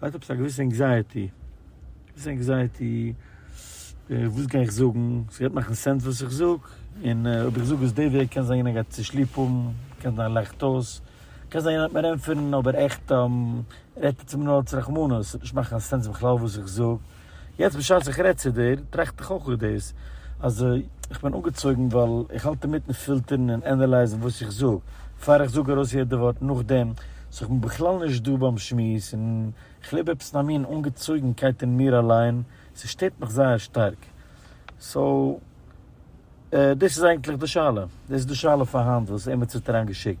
כ'האב עפעס א געוויסע ענקזייעטי, געוויסע ענקזייעטי, וואס גיי איך זאגן, ס'גייט מאכן סענס וואס איך זאג, און אויב איך זאג עס די וועג קען זיין יענער גייט צו שליפ האבן, קען זיין ער לאכט אויס, קען זיין יענער וועט מיר ענטפערן אבער עכט רעדט ער צו מיר נאר אלץ רחמנות, ס'וועט נישט מאכן קיין סענס בכלל וואס איך זאג, יעצט בשעת איך רעד צו דיר, טראכט איך אויך אויף דאס, אז איך בין אנגעצויגן ווייל איך האלט אינמיטן פילטערן און ענעלייזן וואס איך זאג, פאר איך זאג ארויס יעדע ווארט נאכדעם, סאו איך בין בכלל נישט דא ביים שמועס, און איך לעב עפעס אין א מין אנגעצויגנקייט אין מיר אליין, ס'שטערט מיך זייער שטארק. סאו, דאס איז אייגנטליך די שאלה, דאס איז די שאלה פאר היינט וואס עימיצער האט אריינגעשיקט.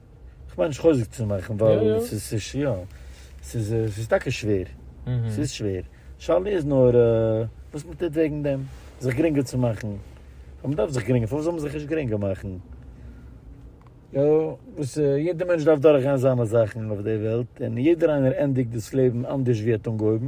כ'מיין נישט חוזק צו מאכן ווייל ס'איז יא, ס'איז טאקע שווער, ס'איז שווער, שאלה איז נאר וואס מען טוט וועגן דעם, זיך גרינגער צו מאכן, ווייל מען דארף זיך גרינגער, פארוואס זאל מען זיך נישט גרינגער מאכן? יא, וואס יעדער מענטש דארף דורכגיין זיינע זאכן אויף די וועלט, און יעדער איינער ענדיגט דאס לעבן אנדערש ווי ער האט אנגעהויבן.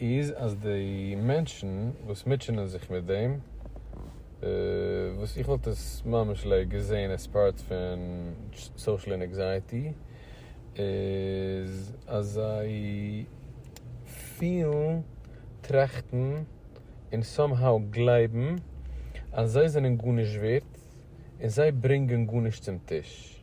איז אז די מענטשן וואס מוטשענען זיך מיט דעם, וואס איך וואלט עס ממש לע געזעהן עס פארט פון סאושעל אינעקזייעטי, איז אז זיי פילן, טראכטן, און סאמהאו גלייבן אז זיי זענען גארנישט ווערט, און זיי ברענגען גארנישט צום טיש.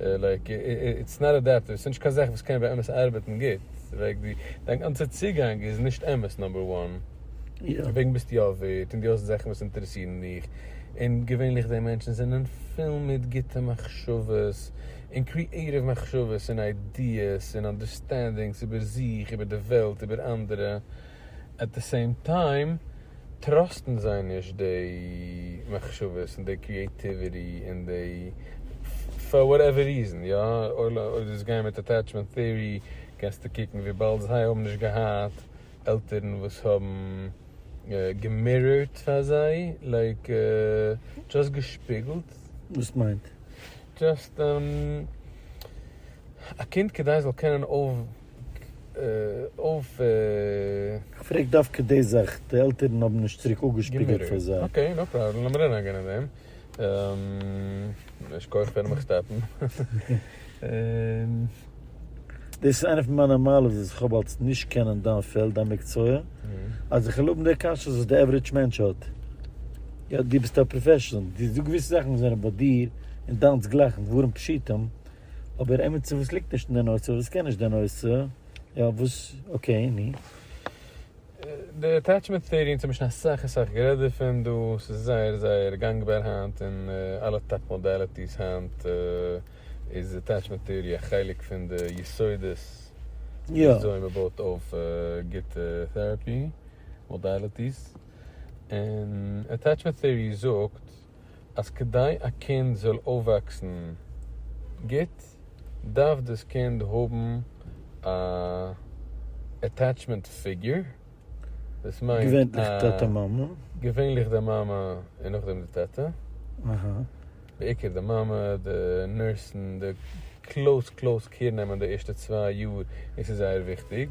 לייק איטס נאט אדעפטיוו, ס'נישט קיין זאך וואס קען באמת ארבעטן גוט, לייק די דיין גאנצע צוגאנג איז נישט אמת נאמבער וואן, דערוועגן ביסטו יא ווערד און דו האסט זאכן וואס אינטערעסירן דיך, און געווענליך די מענטשן זענען פול מיט גוטע מחשבות און קריעטיוו מחשבות און איידיעס און אנדערסטענדינגס איבער זיך, איבער די וועלט, איבער אנדערע. עט די סעים טיים טראסטן זיי נישט די מחשבות און די קריעטיוויטי און די פאר וואטעווער ריזען יא אויב דאס גייען מיט עטעטשמענט טעארי קענסטו קוקן וויבאלד זיי האבן נישט געהאט עלטערן וואס האבן געמירערט פאר זיי לייק דזשאסט געשפיגלט. וואס מיינט? דזשאסט א קינד כדי זאל קענען אויף. אויף. כ'פרעג דווקא די זאך, די עלטערן האבן נישט צוריק אפגעשפיגלט פאר זיי. אקעי, נאו פראבלעם, לאמיר נישט אריינגיין אין דעם. יישר כח פארן מיך שטאפן. דאס איז איינע פון מיינע מעלות וואס כ'האב אלס נישט קענען דיין פעלד, דיין מקצוע, אז איך וויל האבן די קשיות וואס די עווערידזש מענטש האט. יא, דו ביסט א פראפעשאנעל, דו זאגסט געוויסע זאכן וואס זענען ביי דיר און דיינס גלייכן דברים פשוטים, אבער עמיצער וואס ליגט נישט אין די נושא, וואס קען נישט די נושא, יא וואס, אקעי, נו. די עטעטשמענט טעארי אונז האבן שוין אסאך אסאך גערעדט דערפון דא, ס'איז זייער זייער גאנגבאר היינט אין אלע טאפ מאדעליטיס היינט איז עטעטשמענט טעארי א חלק פון די יסודות וויאזוי מ'בויט אויף גוטע טעראפי מאדעליטיס, און עטעטשמענט טעארי זאגט. אז כדי א קינד זאל אויפוואקסן גוט דארף דאס קינד האבן א עטעטשמענט פיגור, דאס מיינט געווענליך די מאמע און נאכדעם די טאטע, בעיקר די מאמע, די נורסן, די קלאוס קלאוס קעיר נעמען די ערשטע צוויי יאר און ס'איז זייער וויכטיג,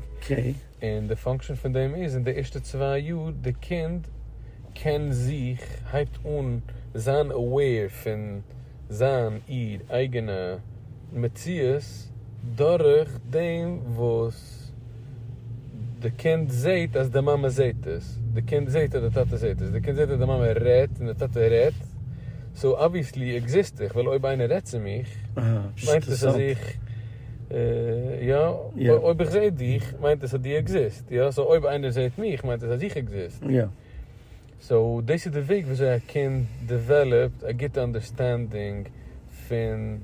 און די פאנקשען פון דעם איז אין די ערשטע צוויי יאר די קינד קען זיך הייבט אן זיין aware פון זיין איר אייגענע מציאות דורך דעם וואס די קינד זעהט אז די מאמע זעהט עס, די קינד זעהט אז די טאטע זעהט עס, די קינד זעהט אז די מאמע רעדט און די טאטע רעדט, סאו אבוויעסלי עקזיסט איך, ווייל אויב איינער רעדט צו מיך מיינט עס אז איך, יא, אויב איך זעה דיך מיינט עס אז דו עקזיסט, יא, סאו אויב איינער זעהט מיך מיינט עס אז איך עקזיסט, סאו דאס איז די וועג ווי אזוי א קינד דעוועלאפט א גוטע אנדערסטענדינג פון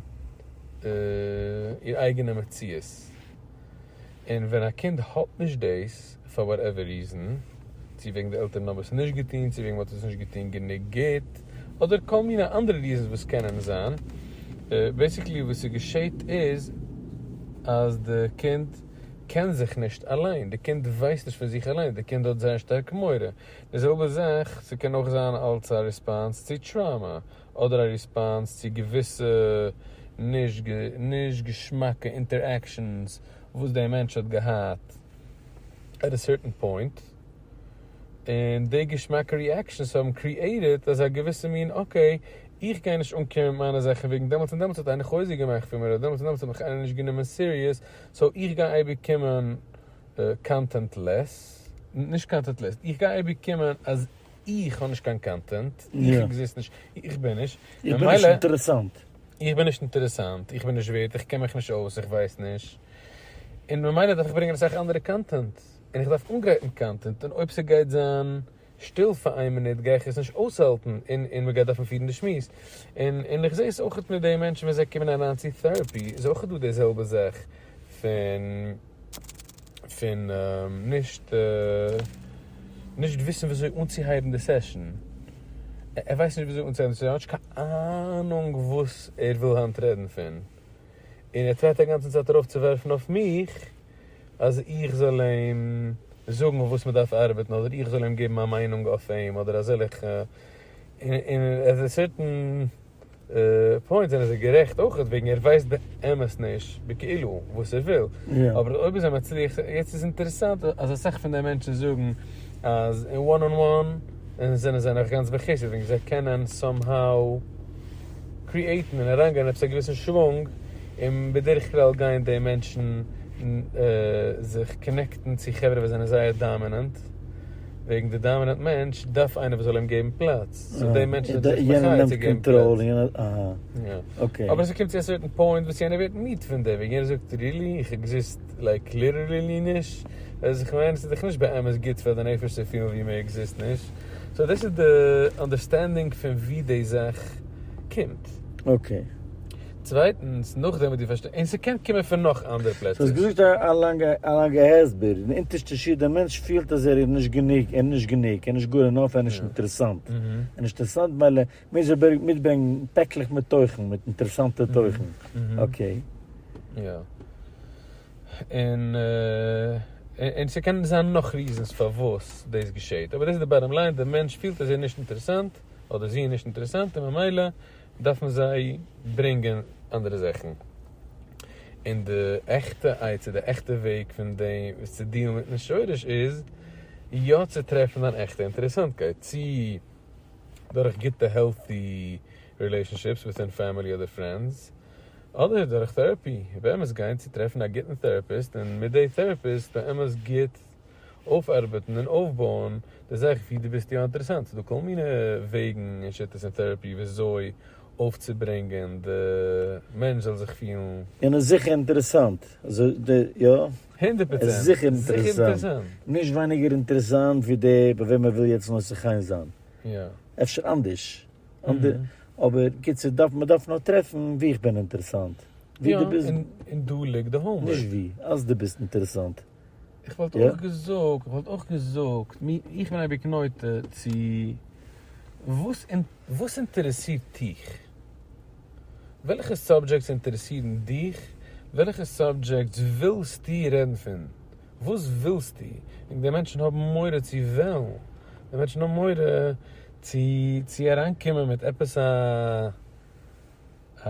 איר אייגענע מציאות. און ווען א קינד האט נישט דאס פאר וואטעווער ריזען, צו וועגן די עלטערן האבן עס נישט געטון, צו וועגן מ'האט עס נישט געטון גענוג גוט, אדער כל מיני אנדערע ריזענס וואס קענען זיין, בעיסיקלי וואס ס'געשעהט איז אז די קינד קען זיך נישט אליין, די קינד ווייסט נישט פון זיך אליין, די קינד האט זייער שטארק מורא, די זעלבע זאך, ס'קען אויך זיין אלס א ריספאנס צו טראומא. אדער א ריספאנס צו געוויסע נישט געשמאקע אינטערעקשאנס וואס דער מענטש האט געהאט עט א סערטען פוינט, און די געשמאקע ריעקשאנס האבן קריעיטעד אזא געוויסע מין אקעי, איך גיי נישט אנקומען מיט מיינע זאכן וועגן דעמאלטס און דעמאלטס האט איינער חוזק געמאכט פון מיר אדער דעמאלטס און דעמאלטס האט מיך איינער נישט גענומען סיריעס סאו איך גיי אייביג קומען קאנטענטלעס, נישט קאנטענטלעס, איך גיי אייביג קומען אז. איך האב נישט קיין קאנטענט, איך עקזיסט נישט, איך בין נישט, איך בין נישט אינטערעסאנט, איך בין נישט אינטערעסאנט, איך בין נישט ווערד, איך קען מיך נישט אויס, איך ווייס נישט, און ממילא דארף איך ברענגען אסאך אנדערע קאנטענט, און איך דארף אנגרייטן קאנטענט, און אויב ס'גייט זיין שטיל פאר איין מינוט גיי איך עס נישט אויסהאלטן, און און מ'גייט דארפן פירן די שמועס, און און איך זעה עס אויכעט מיט די מענטשן ווען זיי קומען אריין צו טעראפי, איז אויכעט דא די זעלבע זאך פון. פון נישט נישט וויסן וויאזוי אנצוהייבן די סעשאן, ער ווייסט נישט וויאזוי אנצוהייבן די סעשאן, ער האט נישט קיין אהנונג וואס ער וויל היינט רעדן פון, און ער טרייט אגאנצן צייט ארויף צו ווערפן אויף מיך אז איך זאל אים זאגן אויף וואס מען דארף ארבעטן אדער איך זאל אים געבן מיין מיינונג אויף אים אדער אזעלעכע, און עט א סערטען. פוינט זענען זיי גערעכט אויך וועגן ער ווייסט באמת נישט בכאילו וואס ער וויל אבער אויב איז ער מצליח יעצט איז אינטערעסאנט אז אסאך פון די מענטשן זאגן אז אין וואן אן וואן זענען זיי נאך גאנץ בחסד וועגן זיי קענען סאם האו קריעטן און אריינגיין עפעס א געוויסן שוואונג און בדרך כלל גייען די מענטשן זיך קאנעקטן צו חברה וואס זענען זייער דאמינענט. וועגן די דאמינענט מענטש דארף איינער וואס זאל אים געבן פלאץ, סאו די מענטש איז דאך מחיה צו געבן פלאץ, אבער ס'קומט צו א סערטען פוינט וואס יענער ווערט מיד פון דעם, יענער זאגט רילי? איך עקזיסט לייק ליטערלי נישט? ווייסט איך מיין? ס'איז דאך נישט באמת גוט פאר די נפש צו פילן ווי מען עקזיסט נישט, סאו דאס איז די אנדערסטענדינג פון ווי די זאך קומט. צווייטנס, נאכדעם וואס דו פארשטייסט, און ס'קען קומען פון נאך אנדערע פלעצער. ס'האסט געזאגט א לאנגע הסבר, אין אונטערשטע שורה דער מענטש פילט אז ער איז נישט גענוג, ער איז נישט גענוג, ער איז נישט גאר אינאף, ער איז נישט אינטערעסאנט, ער איז נישט אינטערעסאנט מילא מוז ער מיטברענגן פעקלעך מיט תוכן, מיט אינטערעסאנטע תוכן, אקעי. יא. און ס'קען זיין נאך ריזענס פארוואס דאס געשעהט, אבער דאס איז די באטאם ליין, דער מענטש פילט אז ער איז נישט אינטערעסאנט, אדער זי איז נישט אינטערעסאנט, און ממילא דארף מען זיי ברענגען אנדערע זאכן, און די עכטע עצה, די עכטע וועג פון דעם וואס צו דיעלן מיטן שורש איז יא צו טרעפן אן עכטע אינטערעסאנטקייט, צי דורך גוטע העלטי רילעישאנשיפס וויטין פעמילי אדער פרענדס, אדער דורך טעראפי, באמת גיין צו טרעפן א גוטן טעראפיסט און מיט די טעראפיסט באמת גוט אויפארבעטן און אויפבויען די זאך ווי דו ביסט יא אינטערעסאנט. ס'דא כל מיני וועגן און שיטות אין טעראפי וויאזוי אויפצוברענגען די מענטש זאל זיך פילן. און איז זיכער אינטערעסאנט. יא. הונדערט פראצענט. זיכער אינטערעסאנט. נישט ווייניגער אינטערעסאנט ווי דער ביי וועם ער וויל יעצט נושא חן זיין. אפשר אנדערש. אבער קיצור דארף מען דארף נאר טרעפן ווי איך בין אינטערעסאנט. ווי דו ביסט. און דא ליגט די האומווארק. נישט ווי. אז דו ביסט אינטערעסאנט. איך וואלט אויך געזאגט, איך וואלט אויך געזאגט, איך בין אייביג נוטה צו, וואס וואס אינטערעסירט דיך? וועלכע סאבדזשעקטס אינטערעסירן דיך? וועלכע סאבדזשעקטס ווילסטו רעדן פון? וואס ווילסטו? און די מענטשן האבן מורא צו וועלן, די מענטשן האבן מורא צו צו אריינקומען מיט עפעס א א.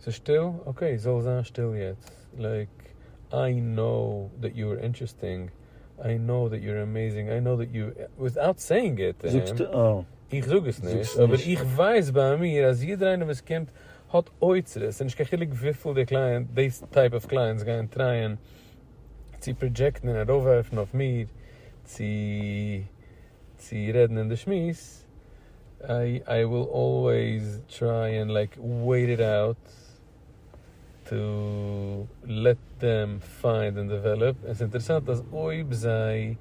ס'איז שטיל? אקעי זאל זיין שטיל יעצט. לייק, איי נאו דעט יו אר אינטערעסטינג, איי נאו דעט יו אר עמעיזינג, איי נאו דעט יו, וויטאוט סעיאינג איט טו הים, איך זאג עס נישט, אבער איך ווייס ביי מיר אז יעדער איינער וואס קומט האט אוצרות, און נישט קיין חילוק וויפיל די קלייענט, די טייפ אוו קלייענטס גייען טרייען צו פראדזשעקטן און ארויפווארפן אויף מיר צו רעדן אין די שמועס. איי וויל אלוועיס טריי ענד לייק וועיט איט אוט טו לעט דעם פיינד ענד דעוועלאפ, און ס'איז אינטערעסאנט אז אויב זיי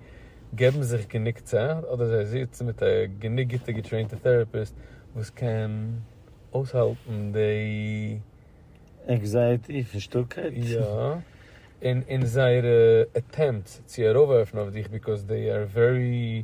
געבן זיך גענוג צייט, אדער זיי זיצן מיט א גענוג גוטע געטרעינטע טעראפיסט וואס קען אויסהאלטן די. ענקזייעטי פון שטילקייט. יא, און זייערע עטעמפטס צו ארויפווארפן אויף דיך, ביקאוז דעי אר ווערי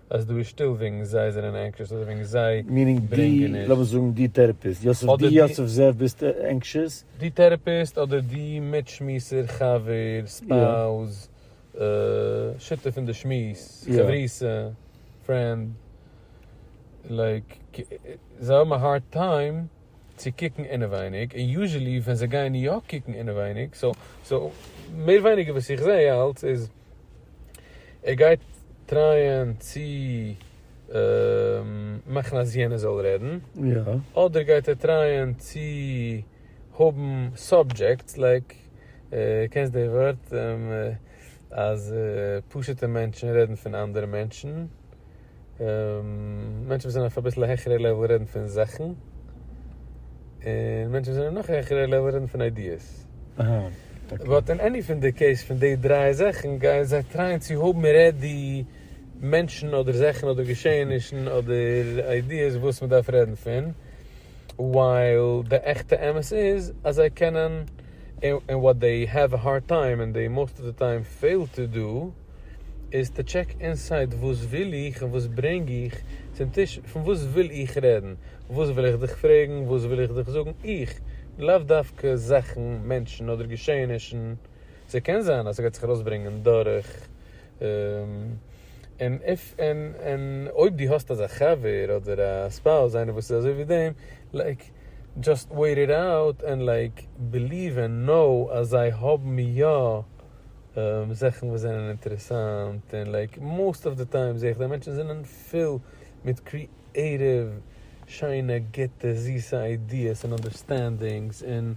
אז דא איז שטיל וועגן זיי זענען ענקשעס אדער וועגן זיי ברענגען נישט. לאמיר זאגן די טערעפיסט יוסף די יוסף זאב ביסט ענקשעס? די טערעפיסט אדער די מיטשמועסער חבר ספאוז שותף אין די שמועס חברותא פרענד לייק זיי האבן א הארד טיים. צו קוקן אינעווייניג, און יוזשעלי ווען זיי גייען יא קוקן אינעווייניג, סאו סאו מער ווייניגער וואס איך זעה אלץ איז ער גייט טרייען צו מאכן אז יענער זאל רעדן, אדער גייט ער טרייען צו האבן סאבדזשעקטס, לייק קענסט די ווארט אז פשוט'ע מענטשן רעדן פון אנדערע מענטשן. מענטשן וואס זענען אויף אביסל העכערע לעוועל רעדן פון זאכן, און מענטשן וואס זענען נאך העכערע לעוועל רעדן פון איידיעס. באט אין עני פון די קעיס פון די דריי זאכן גייען זיי טרייען צו האבן רעדי מענטשן אדער זאכן אדער געשעענישן אדער איידיעס וואס מען דארף רעדן פון, ווייל די עכטע אמת איז אז זיי קענען, און וואט דעי העוו א הארד טיים און דעי מאסט אוו די טיים פעיל טו דא, איז טו טשעק אינסייד וואס וויל איך און וואס ברענג איך צום טיש פון וואס וויל איך רעדן וואס וויל איך דיך פרעגן וואס וויל איך דיך זאגן איך לאו דווקא זאכן מענטשן אדער געשעענישן ס'קען זיין אז ס'גייט זיך ארויסברענגען דורך און איף ענד און אויב דו האסט אזא חבר אדער א ספאוז איינער וואס איז אזוי ווי דעם לייק דזשאסט וועיט איט אויט און לייק ביליוו און נאו אז זיי האבן יא זאכן וואס זענען אינטערעסאנט און לייק מאסט אוו די טיים זעה איך די מענטשן זענען פול מיט קריעטיוו שיינע גוטע זיסע איידיעס און אנדערסטענדינגס און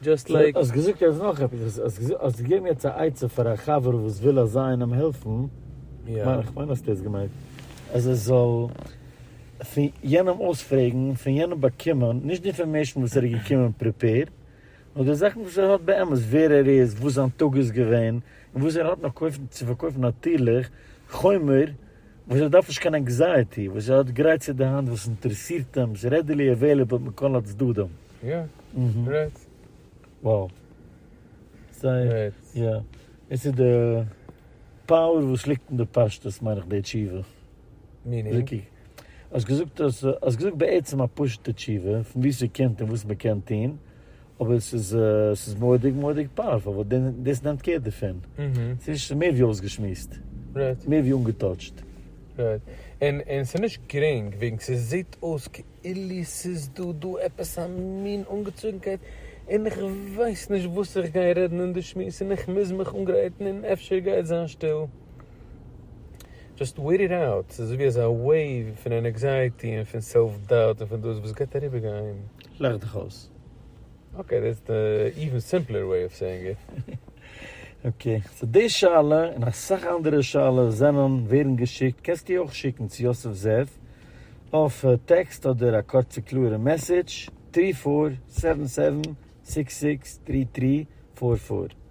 דזשאסט לייק. האסט געזאגט יעצט נאך עפעס, האסט געזאגט, האסט געגעבן יעצט א עצה פאר א חבר וואס וויל אזא איינעם העלפן, כ'מיין האסט דאס געמיינט, אז ער זאל פון יענעם אויספרעגן, פון יענעם באקומען, נישט די אינפארמעישן וואס ער איז געקומען פריפעירד. נאר די זאכן וואס ער האט באמת, ווער ער איז, וואס זיין טאג איז געווען, און וואס ער האט נאך קויפן צו פארקויפן נאטירליך, חומר, וואס ער דארף נישט קיין ענקזייעטי, וואס ער האט גרייט צו די האנט, וואס אינטערעסירט אים, איז רעדילי עוועליבעל מכל הצדדים. יא, רעדט. וואו. זייער. יא. דאס איז די פאוער וואס ליגט אין די פשטות מיין איך די תשובה. מינינג? האסט געזאגט האסט געזאגט בעצם א פשוטע תשובה פון וואו ס'קומט און וואס מ'קען טון, אבער ס'איז ס'איז מורא'דיג מורא'דיג פאוערפול ווייל דאס נעמט קער דערפון, ס'איז נישט ס'איז מער ווי אויסגעשמועסט, מער ווי אנגעטאטשט. רייט, און און ס'איז נישט גרינג וועגן ס'זעט אויס כאילו ס'איז דא דא עפעס א מין אנגעצויגנקייט און איך ווייס נישט וואס איך גיי רעדן אין די שמועס און איך מוז מיך אנגרייטן און אפשר גייט זיין שטיל. דזשאסט וועיט איט אוט, ס'איז אזויווי אזא וועיוו פון ענעקזייעטי און פון סעלף דאוט און פון דאס וואס גייט אריבער גיין. לאך דיך אויס. אקעי דעטס די איווען סימפלער וועי אוו סעיאינג איט. אקעי סאו די שאלה און אסאך אנדערע שאלות זענען ווערן געשיקט, קענסט די אויך שיקן צו יוסף זאב אויף טעקסט אדער א קורצע קלארע מעסעדזש, טרי פאר סעווען סעווען סיקס סיקס טרי טרי פאר פאר.